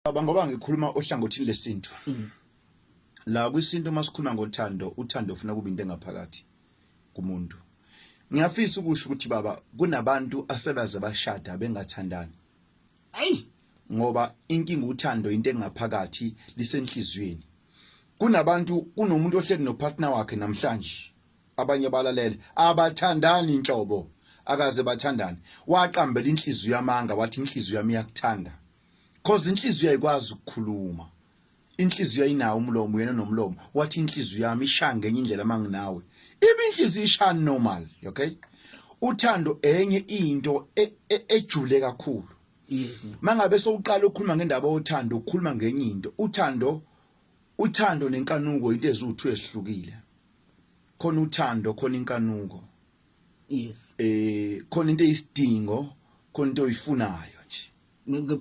Baba ngoba ngikhuluma ohlangothini lesintu. Mm. La kwisintu uma sikhuluma ngothando, uthando ufuna kube into engaphakathi kumuntu. Ngiyafisa ukusho ukuthi baba kunabantu asebaze bashada bengathandani. Ayi ngoba inkinga uthando into engaphakathi lisenhlizweni. Kunabantu kunomuntu ohleli nopartner wakhe namhlanje abanye balalele abathandani inhlobo akaze bathandane waqambela inhliziyo yamanga wathi inhliziyo yami iyakuthanda cause inhliziyo ayikwazi ukukhuluma inhliziyo ayinawo umlomo yena nomlomo wathi inhliziyo yami ishaya ngenye indlela manginawe ibe inhliziyo ishaya normal okay uthando enye into e, e, ejule kakhulu yes mangabe sowuqala ukukhuluma ngendaba yothando ukukhuluma ngenye into uthando uthando nenkanuko into ezuthu ezihlukile khona uthando khona inkanuko yes eh khona into eyisidingo khona into oyifunayo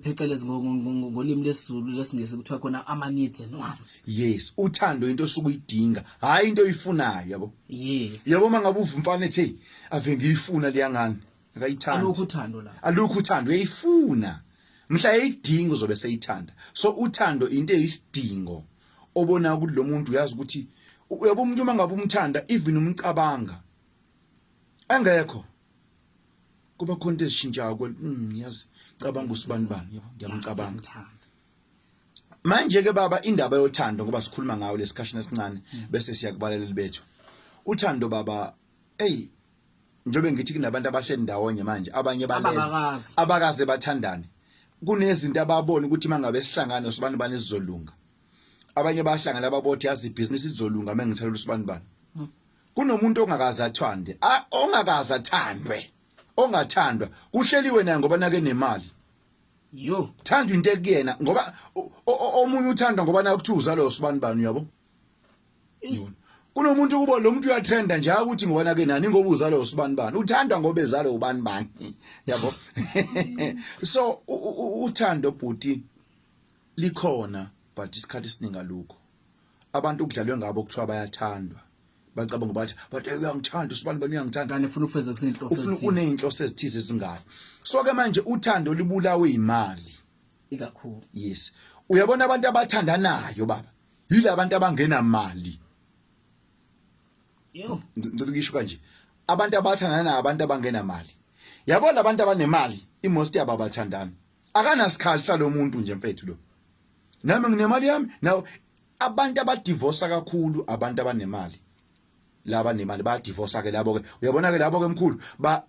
phecelezi ngolimi lesizulu lesingisi kuthiwa khona ama-needs and wants yes uthando into osuke uyidinga hhayi into oyifunayo yabo yes yabo uma ngabe uva umfana ethi ave ngiyifuna liyangani akayithandi alukho uthando la alukho uthando uyayifuna mhla eyidinga uzobe seyithanda so uthando into eyisidingo obona ukuthi lo muntu uyazi ukuthi uyabo umuntu uma ngabe umthanda even umcabanga engekho kuba khona into ezishintshayo kwe mm, yazi cabanga usibani bani yabo ngiyamcabanga manje ke baba indaba yothando ngoba sikhuluma ngayo lesikhashini esincane mm. bese siyakubaleleli bethu uthando baba hey njobe ngithi kunabantu abahleli ndawonye manje abanye balele abakaze bathandane kunezinto ababona ukuthi mangabe sihlangana sobantu bani sizolunga abanye bahlangana babothi yazi ibhizinisi lizolunga mengithalela usibani bani hmm. kunomuntu ongakaze athande ongakaze athandwe ongathandwa kuhleliwe naye ngoba nake nemali yo thanda into ekuyena ngoba omunye uthanda ngoba naye kuthiwa uzalo usibani bani uyabo kunomuntu kubo lo muntu uyatrenda nje ukuthi ngoba nake nani ngoba uzalo usibani bani uthanda ngoba ezalo ubani bani yabo so uthando bhuti Likhona but isikhathi esiningi alukho. Abantu kudlalwe ngabo kuthiwa bayathandwa. Bacabanga ukuthi but uyangithanda usibani bani uyangithanda. Kanti ufuna ukufeza kusenhloso ezithize. Ufuna uneyinhloso ezithize ezingayo. So ke manje uthando libulawe imali. Ikakhulu. Yes. Uyabona abantu abathandanayo baba. Yila abantu abangena mali. Yo. Ngicela ukisho kanje. Abantu abathandanayo abantu abangena mali. Yabo labantu abanemali imosti yabo abathandani. akanasikhali salomuntu nje mfethu lo nami nginemali yami nawo abantu abadivosa kakhulu abantu abanemali laba nemali bayadivosa ke labo ke uyabona ke labo ke mkhulu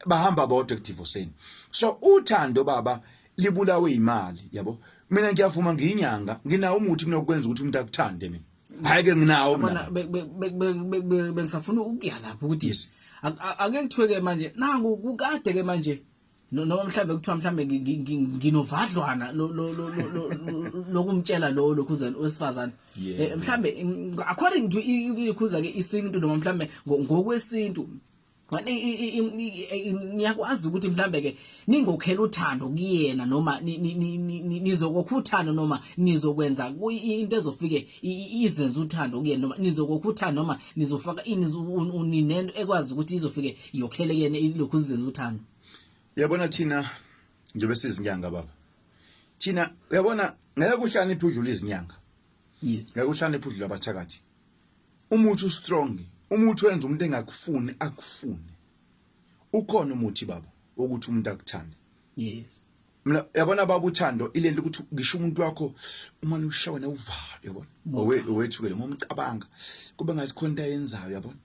bahamba bodwa ekudivoseni so uthando baba libulawe imali yabo mina ngiyavuma ngiyinyanga nginawo umuthi mina ukwenza ukuthi umuntu akuthande mina hayi ke nginawo mina bengisafuna ukuya lapho ukuthi ake ngithweke manje nangu kukade ke manje noma mhlambe kuthiwa mhlambe nginovadlwana lokumtshela lo lokhuzana wesifazane eh, mhlambe according to ikhuza ke isintu noma mhlambe ngokwesintu niyakwazi ukuthi mhlambe ke ningokhela uthando kuyena noma nizokokhuthana noma nizokwenza into ezofike izenza uthando kuyena noma nizokokha uthando noma nizofaka ini uninento ekwazi ukuthi izofike yokhele kuyena lokhu sizenza uthando yabona thina njengoba sizinyanga baba thina uyabona ngeke uhlaniphe udlula izinyanga yes ngeke uhlaniphe udlula abathakathi umuthi ustrong umuthi wenza umuntu engakufuni akufune ukhona umuthi baba ukuthi umuntu akuthande yes mina yabona baba uthando ilento ukuthi ngisho umuntu wakho uma ushawa newuvalo yabona owethu owethu ke noma umcabanga kube ngathi khona into ayenzayo yabona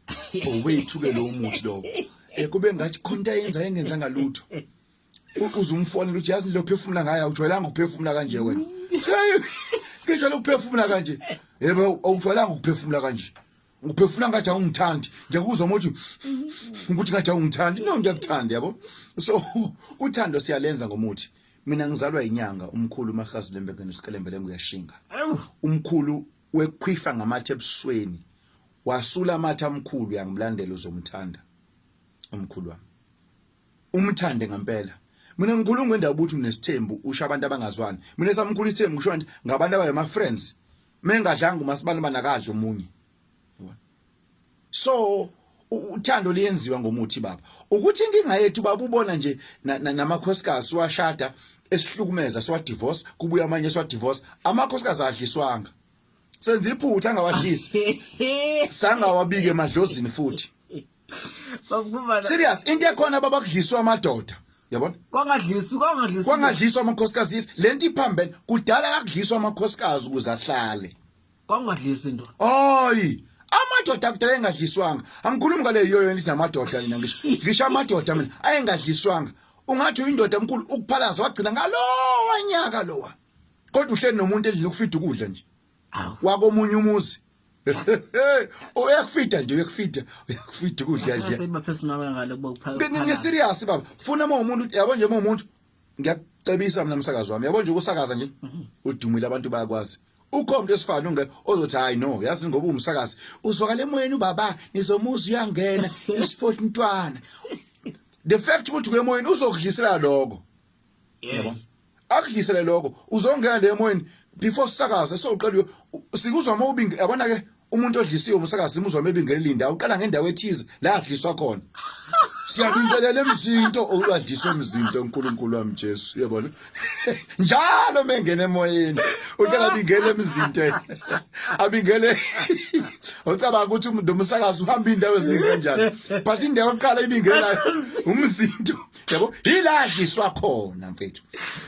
owethu ke lo muthi lo eh kube ngathi khona into ayenza engenza ngalutho uzumfonela ukuthi yazi lo phefumula ngayo awujwayelanga ukuphefumula kanje wena ngijwayele ukuphefumula kanje yebo awujwayelanga ukuphefumula kanje uphefuna ngathi awungithandi ngiyakuzwa mothi ukuthi ngathi awungithandi no ngiyakuthanda yabo so uthando siyalenza ngomuthi mina ngizalwa inyanga umkhulu umahazi lembekeni usikelembe nguyashinga umkhulu wekhwifa ngamathe ebusweni wasula amathe amkhulu yangimlandela uzomthanda umkhulu wami umthande ngempela mina ngikhuluma ngendaba ukuthi unesithembu usha abantu abangazwani mina samkhulu isithembu kusho nje ngabantu abaye ma friends mengadlanga umasibani banakadla omunye so uthando liyenziwa ngomuthi baba ukuthi inkinga yethu baba ubona nje namakhosikazi siwashada esihlukumeza siwa divorce kubuya amanye siwa divorce amakhosikazi adliswanga senza iphutha angawadlisi sangawabike emadlozini futhi Bavuma serious into ekhona babakudliswa amadoda yabona kwangadlisi kwangadlisi kwangadliswa amakhosikazi yes lento iphambene kudala kakudliswa amakhosikazi ukuze ahlale kwangadlisi into hayi amadoda kudala engadliswanga angikhulumi ngale yoyo endithi amadoda mina ngisho ngisho amadoda mina ayengadliswanga ungathi uyindoda enkulu ukuphalaza wagcina ngalowa nyaka lowa kodwa uhleli nomuntu endlini ukufida ukudla nje wakomunye umuzi uyakufida nje uyakufida uyakufida ukudla nje sesiba personal ngale kuba kuphaka ngi serious baba funa uma umuntu yabo nje uma umuntu ngiyacebisa mina umsakazo wami yabo nje ukusakaza nje mhm. udumile abantu bayakwazi ukhombe esifana unge ozothi hayi no yazi ngoba umsakazi uzwakala emoyeni ubaba nizomuza uyangena isport ntwana the fact ukuthi kuyemoyeni uzokudlisela lokho yebo akudlisele lokho uzongena le emoyeni before sisakaze soqala sikuzwa uma ubinge yabona ke umuntu odlisiwe umsakazi imuzwa mebingele linda uqala ngendawo ethize la adliswa khona siyabingelela emzinto owadliswa emzinto uNkulunkulu wami Jesu uyabona njalo mengena emoyeni uqala bingele emzinto abingele ucabanga ukuthi umuntu umsakazi uhamba indawo eziningi kanjani but indawo oqala ibingela umzinto yabo yiladliswa khona mfethu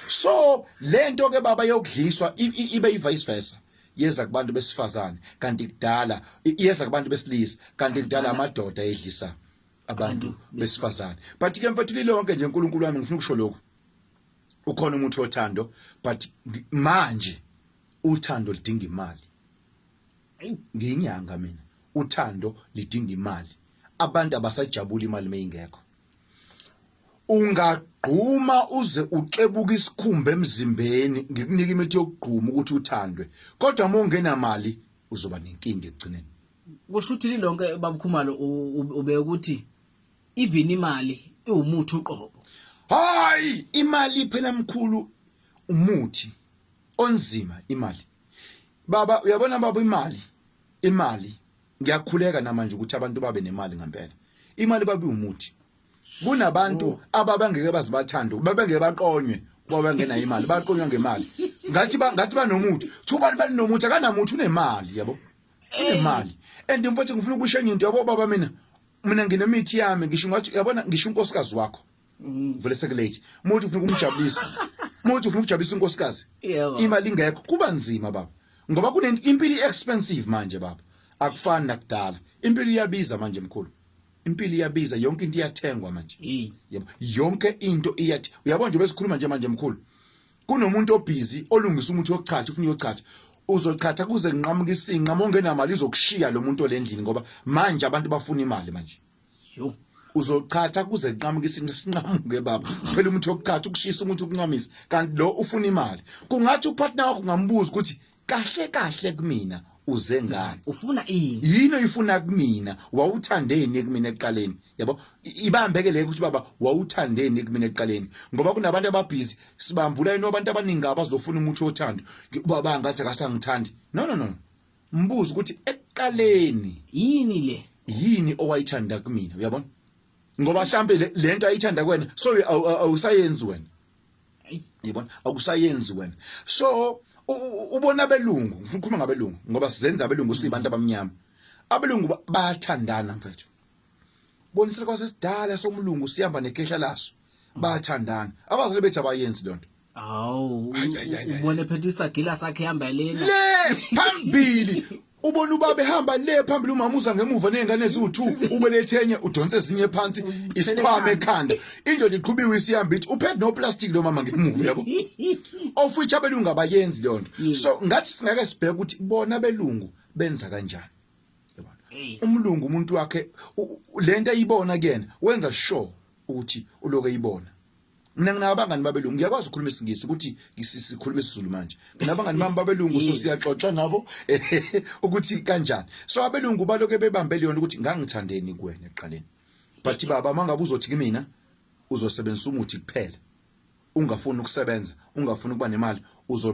so lento ke baba yokudliswa ibe ivice versa yeza kubantu besifazane kanti kudala yeza kubantu besilisa kanti kudala amadoda edlisa abantu besifazane but ke mfethu lilonke nje uNkulunkulu wami ngifuna ukusho lokho ukhona umuntu othando but manje uthando lidinga imali ngiyinyanga mina uthando lidinga imali abantu abasajabula imali meyingekho ungagquma uze uxebuka isikhumba emzimbeni ngikunika imithi yokugquma ukuthi uthandwe kodwa uma ungenamali uzoba nenkinga ekugcineni kusho ukuthi lilonke babukhumalo ube ukuthi even imali iwumuthi uqobo hayi imali phela mkhulu umuthi onzima imali baba uyabona baba imali imali ngiyakhuleka namanje ukuthi abantu babe nemali ngempela imali babe umuthi kunabantu oh. ababangeke bazibathanda babengeke baqonywe kuba bengena imali baqonywa ngemali ngathi ba ngathi banomuthi kuthiwa abantu balinomuthi akanamuthi unemali yabo unemali and mfowethu ngifuna ukushenye into yabo baba mina mina nginemithi yami ngisho ngathi yabona ngisho unkosikazi wakho mm. vele sekulate muthi ufuna ukumjabulisa muthi ufuna ukujabulisa unkosikazi imali ingekho kuba nzima baba ngoba kunempilo expensive manje baba akufani nakudala impilo iyabiza manje mkhulu impilo iyabiza yonke into iyathengwa manje yebo yonke into iyathi uyabona nje besikhuluma nje manje mkhulu kunomuntu obhizi olungisa umuthi wokuchatha ufuna uyochatha uzochatha kuze nqamuka isinqa mongenamali izokushiya lo muntu olendlini ngoba manje abantu bafuna imali manje yo uzochatha kuze kunqamuke isinqamuke baba phela umuntu yokuchatha ukushisa umuntu ukuncamisa kanti lo ufuna imali kungathi upartner wakho ngambuza ukuthi kahle kahle kumina uze ngani ufuna ini yini oyifuna kumina wawuthandeni kumina eqaleni yabo ibambeke le ukuthi baba wawuthandeni kumina eqaleni ngoba kunabantu ababhizi sibambula into abantu abaningi abazofuna umuntu othando baba ngathi akasangithandi no no no Mbuzo ukuthi ekuqaleni yini le? Yini owayithanda kumina? Uyabona? Ngoba mhlambe lento ayithanda kwena so awusayenzi wena. Yabona? Awusayenzi wena. So ubona abelungu, ngifuna ukukhuluma ngabelungu ngoba sizenza abelungu sibantu abamnyama. Abelungu bayathandana mfethu. Bonisela kwasesidala somlungu sihamba nekhehla laso. bayathandana abazali bethu abayenzi lonto Hawu ubone phethe isagila sakhe hamba lena. Le phambili ubona ubaba ehamba le phambili umama uza ngemuva nezingane eziwu2 ubelethenye udonse ezinye phansi isikhwama ekhanda indoda iqhubiwe isihamba ithi uphethe no plastic lo mama ngemuva yabo ofuthi abelungu abayenzi leyo nto so ngathi singake sibheke ukuthi bona belungu benza kanjani umlungu umuntu wakhe lento ayibona kuyena wenza sure ukuthi uloku eyibona mina nginabo abangani babelungu ngiyakwazi ukukhuluma isingisi ukuthi sikhuluma isiZulu manje mina abangani bami babelungu so siyaxoxa nabo ukuthi kanjani so abelungu baloke bebambe leyo ukuthi ngangithandeni kuwena eqaleni but baba mangabe uzothi kimina uzosebenzisa umuthi kuphela ungafuni ukusebenza ungafuni ukuba nemali uzo